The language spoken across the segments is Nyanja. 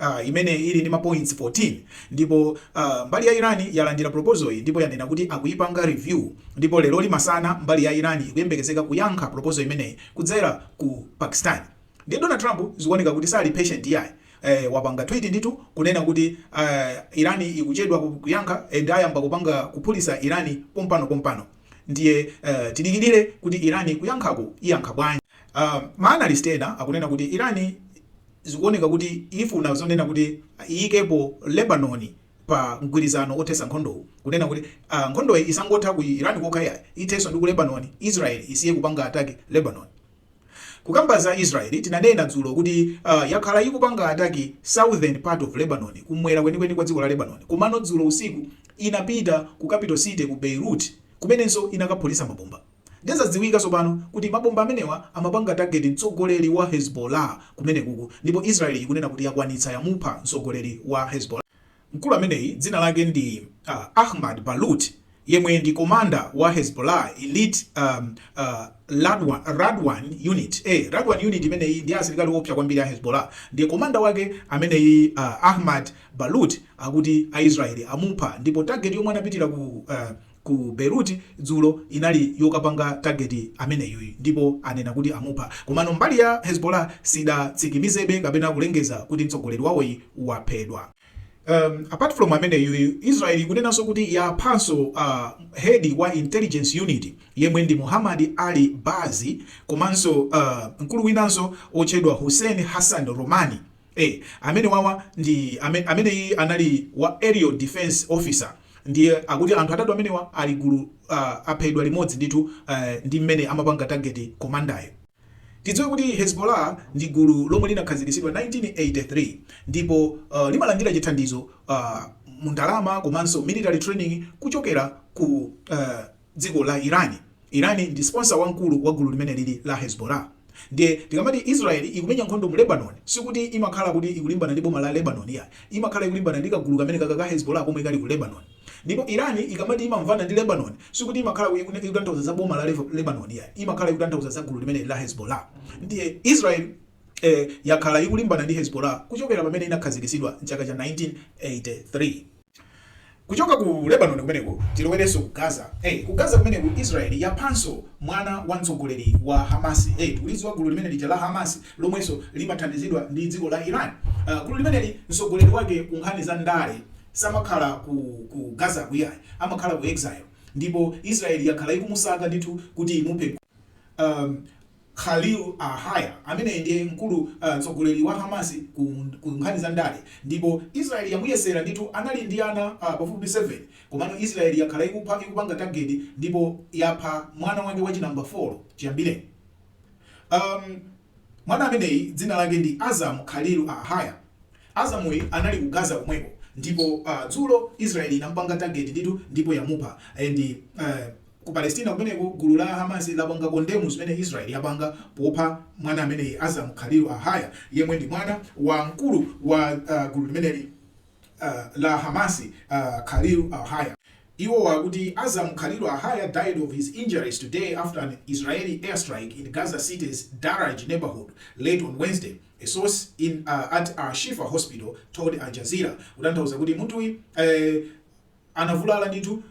uh, imene ili ndi mapoints 14 ndipo uh, mbali ya Iran yalandira proposal iyi ndipo yanena kuti akuyipanga review ndipo lero limasana mbali ya Iran ikuyembekezeka kuyankha proposal imeneyi kudzera ku Pakistan ndiye Donald Trump zikuoneka kuti sali patient yayi eh, wapanga tweet nditu kunena kuti eh, Irani ikuchedwa kuyankha and ayamba kupanga kuphulitsa Irani pompano pompano ndiye eh, tidikirire kuti Irani kuyankhako iyankha bwanji. Uh, maanalist ena akunena kuti Irani Zikuoneka kuti ifuna zonena kuti iyikepo Lebanon pa mgwirizano othetsa nkhondowu, kunena kuti ah nkhondoyi isangotha ku Iran kokha yayi, ithenso ndi ku Lebanon, Israel isiye kupanga attack Lebanon. Kukamba za Israel tinanena dzulo kuti ah yakhala ikupanga attack southern part of Lebanon, kumwera kwenikweni kwa dziko la Lebanon, komano dzulo usiku inapita ku capital city ku Beirut kumenenso inakaphulitsa mabomba. Ndiye zadziwika tsopano kuti mabomba amenewa amapanga target mtsogoleri wa Hezbollah kumenekuku ndipo Israel ikunena kuti yakwanitsa yamupha mtsogoleri wa Hezbollah. Mkulu ameneyi dzina lake ndi Ahmad Balut yemwe ndi commander wa Hezbollah elite um, uh, Radwan unit. Eh, Radwan unit imeneyi ndi asilikali oopsa kwambiri a Hezbollah. Ndiye commander wake ameneyi uh, Ahmad Balut akuti a Israel amupha ndipo target yomwe anapitira ku uh, ku Beirut dzulo inali yokapanga target ameneyuyu ndipo anena kuti amupha komano mbali ya Hezbollah sidatsikimizebe kapena kulengeza kuti mtsogoleri wawoyi waphedwa. Um, apart from ameneyuyu Israel ikunenanso kuti yaphanso a uh, head wa intelligence unit yemwe ndi Muhammad Ali Bazi komanso uh, mkulu winanso otchedwa Hussein Hassan Romani A, amenewawa ndi ame, ameneyi anali wa Aerial Defense Officer ndiye akuti anthu atatu amenewa ali gulu uh, aphedwa limodzi ndithu uh, ndi mmene amapanga target komandayo. Tidziwe kuti Hezbollah ndi gulu lomwe linakhazikitsidwa 1983 ndipo uh, limalandira chithandizo uh, mundalama komanso military training kuchokera ku uh, dziko la Iran. Iran ndi sponsor wamkulu wa gulu limenelili la Hezbollah. Ndiye tikamati Israel ikumenya nkhondo mu Lebanon sikuti imakhala kuti ikulimbana ndi boma la Lebanon iyayi. Imakhala ikulimbana ndi kagulu kamenekaka ka Hezbollah komwe kali ku Lebanon. Ndipo Iran ikamati imamvana ndi Lebanon sikuti imakhala ku ikutanthauza za boma la Le Lebanon iyayi. Imakhala ikutanthauza za gulu limeneli la Hezbollah. Ndiye Israel eh yakhala ikulimbana ndi Hezbollah kuchokera pamene inakhazikitsidwa m'chaka cha 1983. Kuchoka ku Lebanon kumeneko tilowerenso ku Gaza. Eh, ku Gaza kumeneko Israel yaphanso mwana wa mtsogoleri wa Hamas. Eh, tikulidziwa gulu limene lija la Hamas lomwenso limathandizidwa ndi dziko la Iran. Uh, gulu limeneli mtsogoleri wake ku nkhani za ndale samakhala ku, ku Gazaku iyayi, amakhala ku exile ndipo Israel yakhala ikumusaka ndithu kuti imuphe um, Khalil al-Hayya, amene ndiye mkulu, mtsogoleri, wa Hamas ku ku nkhani za ndale ndipo Israel yamuyesera ndithu anali ndi ana pafupifupi 7 komano Israel yakhala ikupha ikupanga target ndipo yapha mwana wake wa chinamba 4 chiyambire um mwana ameneyi dzina lake ndi Azzam Khalil al-Hayya Azzam uyu anali ku Gaza komweko ndipo dzulo Israel inamupanga target ndithu ndipo yamupha and uh Ku Palestina kumeneko, gulu la Hamas lapanga kondemu zimene Israel yapanga popha mwana ameneyi Azzam Khalil al-Haya yemwe ndi mwana wa mkulu wa gulu limeneli la Hamas Khalil al-Haya. Iwo akuti Azzam Khalil al-Haya died of his injuries today after an Israeli airstrike in Gaza City's Daraj neighborhood late on Wednesday, a source at al-Shifa hospital told Al Jazeera, kutanthauza kuti munthuyi. Anavulala ndithu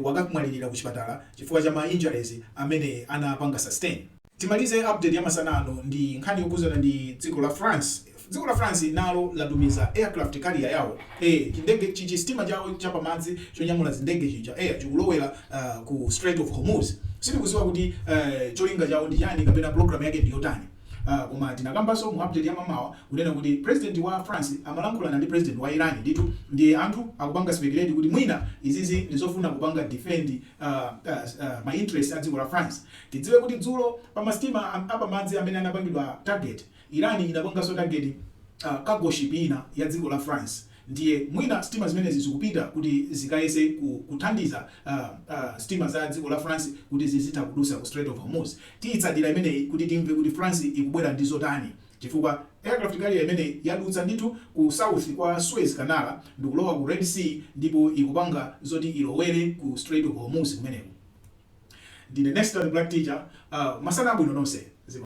wakamwalilira kuchipatala chifukwa cha ma injuries amene anapanga sustain. Timalize update ya masana ano ndi nkhani yokhuzana ndi dziko la France. Dziko la France nalo latumiza aircraft carrier yawo ee chindege chisitima chawo cha pamadzi chonyamula zindege chija eya chikulowela ku Strait of Hormuz. Sitikuziwa kuti cholinga chawo ndi chani kapena program yake ndi yotani. Aaa koma tinakambaso mu update ya mamawa kunena kuti president wa France amalankhulana ndi president wa Iran ndithu ndiye anthu akupanga speculate kuti mwina izizi ndizofuna kupanga defend aaa ma interest adziko la France tidziwe kuti dzulo pa masitima apamadzi amene anapangidwa target Iran inapangaso target aaa cargo ship ina yadziko la France ndiye mwina sitima zimenezi zikupita kuti zikayese ku kuthandiza a, a, sitima za dziko la France kuti zizitha kudutsa ku Strait of Hormuz. Tiitsatira imeneyi kuti timve kuti France ikubwera ndi zotani chifukwa aircraft carrier imeneyi yadutsa ndithu ku south kwa Suez Canal ndikulowa ku Red Sea ndipo ikupanga zoti ilowere ku Strait of Hormuz kumeneko. Ndine Nestor The Black Teacher, a, masana abwino nonse. Zikomo.